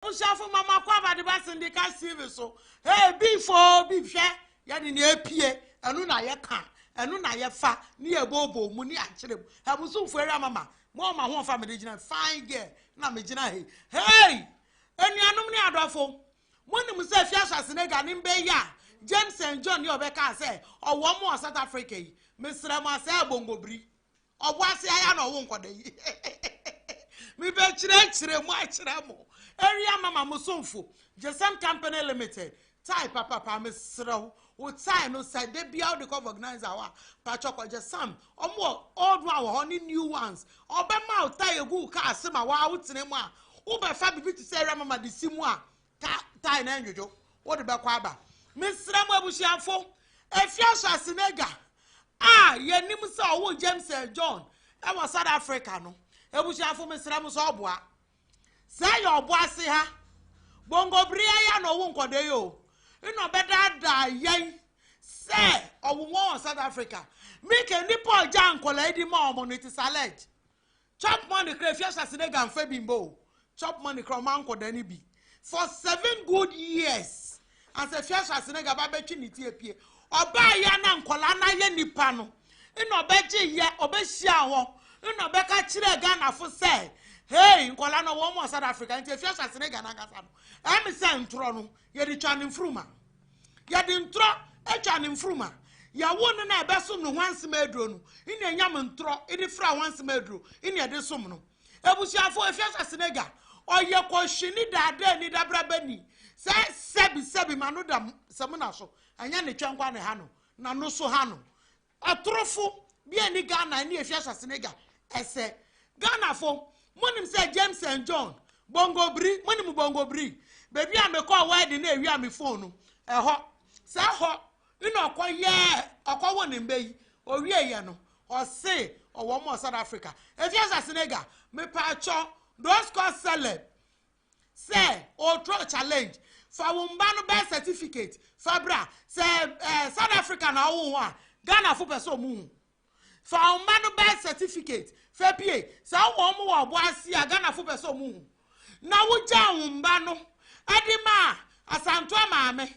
Abusuafo ma makɔ abadeba sendika Steve so. Hey bi foo bi hwɛ yɛde nea epie ɛno na yɛka ɛno na yɛfa ne yɛbɔɔbɔ mu ne akyerɛ mu. Abusumfo awia mama mo ɔma ho ɔfa mede gyina fine girl na megyina he. Hey anuanom ne adɔfo monim sɛ Fia Schwarzenegger ne mbɛ yi a James and John yi ɔbɛkaa sɛ ɔwɔ mo wɔ South Africa yi mesrɛ mo asɛe abongobiri. ɔbɔ ase ayɛ na ɔwo nkɔda yi mebɛkyerɛkyerɛ mu akyerɛ mo area mama mo somfo gyesɛm company limited tae papapa mesrɛ wo wo tae no sɛ da bia wode kɔ organizer hɔ a patwɔ kɔgye sam ɔmo old one wɔ hɔ ne new ones ɔbɛma wo tae egu wo kaa ase ma waa wotena mu a wobɛfa biribi te sɛ area mama de si mu a Ta tae na ndwodwo, wode bɛkɔ aba. Mesrɛ mo abusuafo, ɛfiri ahyɛase no agya a yɛnim sɛ ɔwoo James and John wɔ South Africa no, abusuafo mesrɛ mo sɛ ɔboa. Sɛ yɛ ɔboase ha, bongo bere yɛ ya na ɔwo nkɔdɔ yi o, nna ɔbɛdaadaa yɛn sɛ ɔwo wɔn wɔ South Africa. Mike, nnipa ɔgya nkɔla yi di ma ɔmo no, it is alleged. Chop money kra efi ahyase na ga nfa bi mbo o chop money kra ɔma nkɔda no bi for seven good years ansa efi ahyase na ga ba bɛ twe ne ti apie ɔbaa yɛ na nkɔla na yɛ nipa no na ɔbɛ gye yɛ ɔbɛ hyia hɔ na ɔbɛ ka kyerɛ Ghana fo sɛ hey nkɔla no wɔn mu ɔsad Africa nti efi ahyase na ga na nkasa no ɛmi sɛ ntorɔ no yɛ de twa ne nfuruma. Yɛde ntorɔ atwa ne mfurum a, yɛwo no na ɛbɛsom no hwansema aduro no na ɛnyam ntorɔ de fra hwansema aduro na ɛde som no. Abusuafo, Efia Swasenega, ɔyɛ kɔhwini daadaani dabrabani sɛ sɛbi sɛbi ma no da samina so, ɛnyɛ ne twɛnkwa na ɛha no, na no so ha no. Atorofo bi anni Ghana ani a efi ahyɛse no agya ɛsɛ. Ghanafo, monim sɛ James and John, Bongo Bri, monim Bongo Bri? Baabi a mekɔɔ wedding na ewiaa me phone no, ɛhɔ. Sɛ ɛhɔ na ɔkɔyɛɛ, ɔkɔwoo ne mma yi. Owieeɛ no, ɔse ɔwɔ wɔn wɔ South Africa. Efi ahyɛse no agya, mepaakyɛw, those called celeb, Sɛ ɔretrɔ challenge, fa wo mma no birth certificate fa bra. Sɛ eh, South Africa na ɔwo ho a, Ghana fo pɛ sɛ ɔmo hu. Fa wo mma no birth certificate fa pie. Sɛ ɔwɔ ɔmo wɔ ɔbo ase a, Ghana fo pɛ sɛ ɔmo hu. Na wogyaa wo mma no de maa Asantua maame.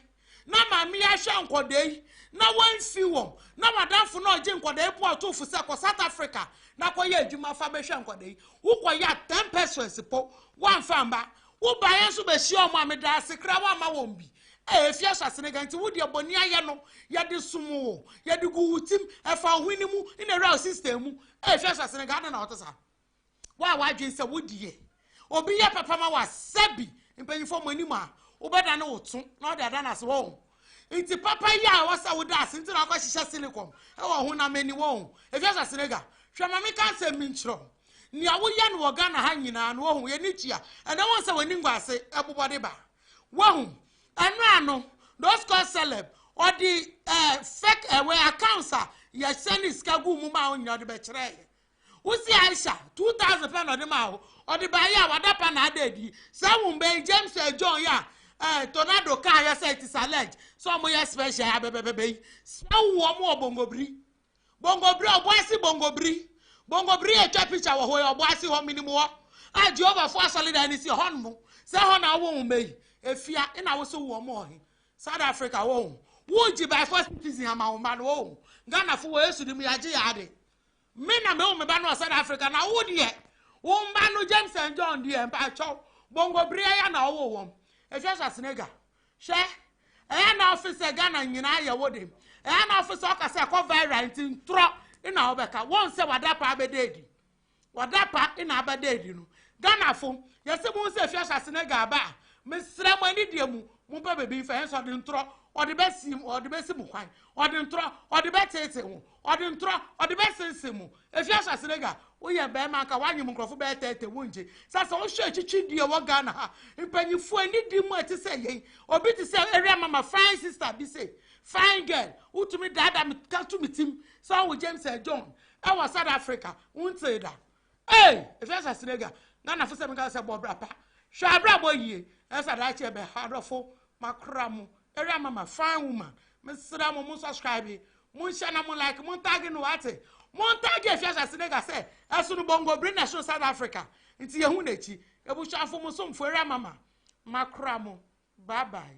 na maame yi ahwɛ nkwadaa yi na wansi wɔn na wadamfo na ɔgye nkwadaa yi po ato fo sɛ kɔ South Africa na kɔyɛ adwuma fa bɛhwɛ nkwadaa yi wokɔyɛ a ten persons po wamfa mma wobaeɛ nso bɛhyia wɔn a meda ase kra wamma wɔn bi ɛɛ fi ahyɛse no ka nti wo deɛ bɔne ayɛ no yɛde som wo yɛde gu wo tim ɛfa wo hwene mu na ɛwura wo system mu ɛɛ fi ahyɛse no ka adɛn na wɔte saa Wo a w'adwene sɛ wo deɛ obi yɛ papa ma wa sɛbi mpanyinfoɔ mo anim a wobɛda ne wo to na ɔde ada no ase wɔn nti papa yi a ɛwɔ sɛ woda ase nti na akɔ hyehyɛ silicon ɛwɔ ho na mani wɔn efi asa senega hwɛ ma meka nsɛm mi nkyerɛ wo nea woyɛ no wɔ Ghana ha nyinaa no wɔhu yɛni kyia ɛnɛ wɔn sɛ w'ani ngwa ase ɛbobɔ de ba wɔhu ɛno ano those called celeb ɔde ɛɛ eh, fake ɛwɛ eh, accounts a yɛhyɛ ne sika gu mu ma wɔn nyinaa ɔde bɛkyerɛ yɛ Wo se Aisha, two thousand pɛ na ɔde maa wo, ɔde baeɛ a wada pa na ada adi. Saa wo mma yi, James and John yi a eh, tornado kaeɛ sɛ it is alleged sɛ ɔmo yɛ special yi, abɛbɛbɛbɛ yi, sɛ wo wɔn wɔ bongobiri. Bongobiri, ɔbo ase bongobiri. Bongobiri yɛ twa picture wɔ hɔ yi, ɔbo ase hɔ, menim hɔ. A Jehovah fo asɔredan no si hɔ nom, sɛ hɔ na wo wo mma yi, efia, ena wo se wo wɔn wɔ he? South Africa, wo ho. Wo gye by force citizen ama wo mma no, wo ho. Ghana fo wɔ Yesu dim, yɛagye yɛn ade. Me na mewo me ba no wɔ South Africa na wo deɛ wo mma no James and John deɛ mpakyɛw bongo bere ɛyɛ na ɔwo wɔn ɛhwɛ Schwarzenegger hwɛ ɛyɛ na ɔfe sɛ Ghana nyinaa yɛ wo de ɛyɛ na ɔfe sɛ ɔka sɛ ɛkɔ viral nti ntorɔ ina wobɛka wɔn sɛ wadapa abɛda adi wadapa ina abɛda adi no Ghana fo yɛsɛ mu sɛ hwɛ Schwarzenegger aba a mesrɛ mo ani deɛ mu mo pɛ bɛbi nfa yɛn sɛ ɔde ntorɔ ɔde bɛsi ɔde bɛsi mu kwan ɔde ntorɔ ɔde bɛtete ho Ɔde ntorɔ, ɔde bɛsensem mo. Efi ahyɛase no agya, woyɛ barima anka woanyem nkurɔfo bɛyɛ tɛɛtɛ, wongye. Sɛ sɛ wohwɛ akyikyi deɛ ɛwɔ Ghana ha, mpanyinfoɔ anidie mu a ɛte sɛ yei, obi te sɛ Area Mama fine sister bi sei, fine girl, wotumi daadaa me ka to me tim sɛ ɔwo James John ɛwɔ South Africa, wontee da. Ei! Ɛsɛ sɛ Senegal, Ghana fo sɛ me ka sɛ bɔ bra pa. Hwɛ abrabɔ yie. Ɛsɛ sɛ daakye ɛbɛ ha adɔfo makora mo. Area mama, fine woman. Me srɛ mo mo subscribe, mo nhyɛ na mo like, mo ntag no wate. Mo ntag ɛhwɛ sɛ Senegal sɛ ɛsono bongo bere na ɛsono South Africa. Nti yɛ hu n'akyi. Ebusuafo mo somfo area mama makora mo. Bye bye.